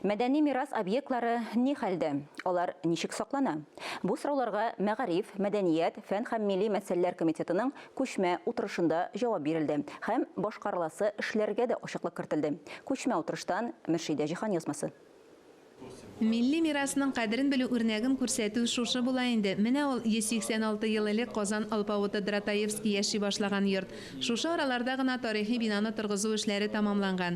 Мәдәни мирас объектлары ни хәлдә? Алар ничек саклана? Бу сорауларга Мәгариф, мәдәният, фән һәм милли мәсьәләләр комитетының күчмә утырышында җавап бирелде һәм башкарыласы эшләргә дә ачыклык кертелде. Күчмә утырыштан Мөршидә Җиһанъязмасы. Милли мирасның кадерен белү үрнәген күрсәтү шушы була инде. Менә ул, 186 ел элек Казан алпавыты Дратаевский яши башлаган йорт. Шушы араларда гына тарихи бинаны торгызу эшләре тәмамланган.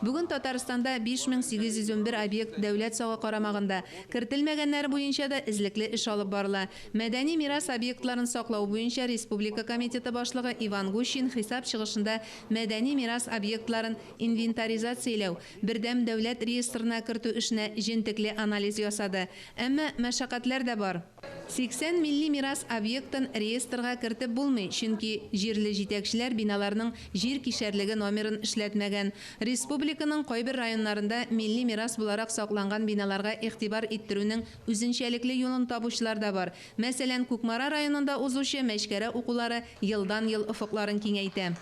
Бүген Татарстанда 5811 объект дәүләт сагы карамагында, кертелмәгәннәре буенча да эзлекле эш алып барыла. Мәдәни мирас объектларын саклау буенча республика комитеты башлыгы Иван Гущин хисап чыгышында мәдәни мирас объектларын инвентаризацияләү, бердәм дәүләт реестрына кертү эшенә җентекле анализ ясады. Әмма мәшәкатьләр дә бар. 80 милли мирас объектын реестрга кертеп булмый, чөнки җирле җитәкчеләр биналарның җир кишәрлеге номерын эшләтмәгән. Республиканың кайбер районнарында милли мирас буларак сакланган биналарга игътибар иттерүнең үзенчәлекле юлын табучылар да бар. Мәсәлән, Кукмара районында узучы Мәчкәрә укулары елдан-ел офыкларын киңәйтә.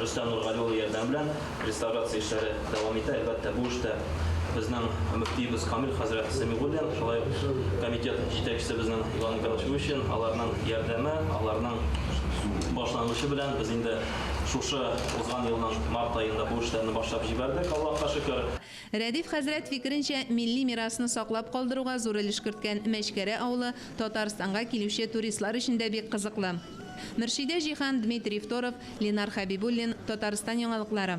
Рөстәм Нургали улы ярдәме белән реставрация эшләре дәвам итә. Әлбәттә, бу эштә безнең мөфтиебез Камил хәзрәт Сәмигуллин, шулай ук комитет җитәкчесебезнең Иван Михайлович Выщин, аларның ярдәме, аларның башлангычы белән без инде шушы узган елның март аенда бу эшләрне башлап җибәрдек, Аллаһка шөкер. Рәдиф хәзрәт фикеренчә, милли мирасны саклап калдыруга зур өлеш керткән Мәчкәрә авылы Татарстанга килүче туристлар өчен дә бик кызыклы. Мөршидә Җиһан, Дмитрий Второв, Ленар Хәбибуллин, Татарстан яңалыклары.